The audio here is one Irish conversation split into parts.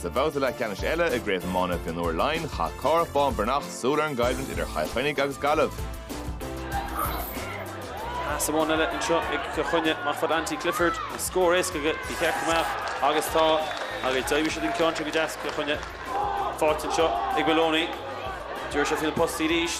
Sa bhabhta leathcheannais eile i gCraobh Iomána Mhionúir Laighean, chaith Cárthach Bán Breathnach súil ar an gcoimhlint idir Chill Chainnigh agus Gaillimh. Pas amháin eile anseo ag Cill Chainnigh mar chuir Anthony Clifford an scór éasca go dtí Cill Chainnigh agus tá agus d'éirigh siad an ceann seo go deas Cill Chainnigh. Faighte anseo ag Maloney. Deir sé faoi na postaí arís.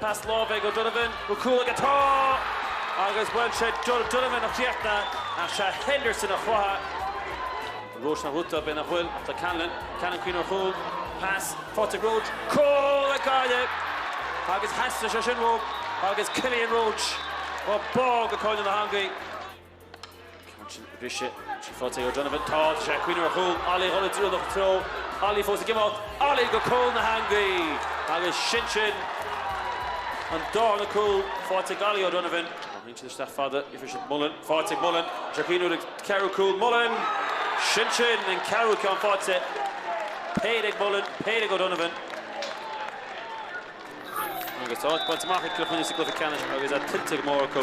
Pas láimhe ag O'Donovan, cúl aige. Tá! Agus bhuel, sé O'Donovan a chríochnaigh, ach sé Henderson a chruthaigh. Roche na rúta, i mbéal an chúil do Callanan. Callanan ag cuimhneamh ar chúl. Pas faighte ag Roche. Cúl ag Gaillimh! Agus theastaigh sé sin Roche, agus Cillian Roche, chomh bog go cúinne na heangaí. Ansin briseann sí, faighte ag O'Donovan. Tá sé ag cuimhneamh ar chúl. Ollie dhul i dtreo lucht treo. Ollie fós ag imeacht. Ollie go cúl na heangaí! Agus sin sin! An darna cúl faighte ag Ollie O'Donovan. Tá Heaney isteach fada, iarrfaidh siad Mullen. Faighte ag Mullen. Tá sé ag cuimhneamh ar an ceathrú cúl. Mullen! Sin sin! An ceathrú ceann faighte. Péire ag Mullen, péire ag O'Donovan. Agus áit bainte amach ag Cill Chainnigh sa gcluiche ceannais agus é tuillte go mór acu,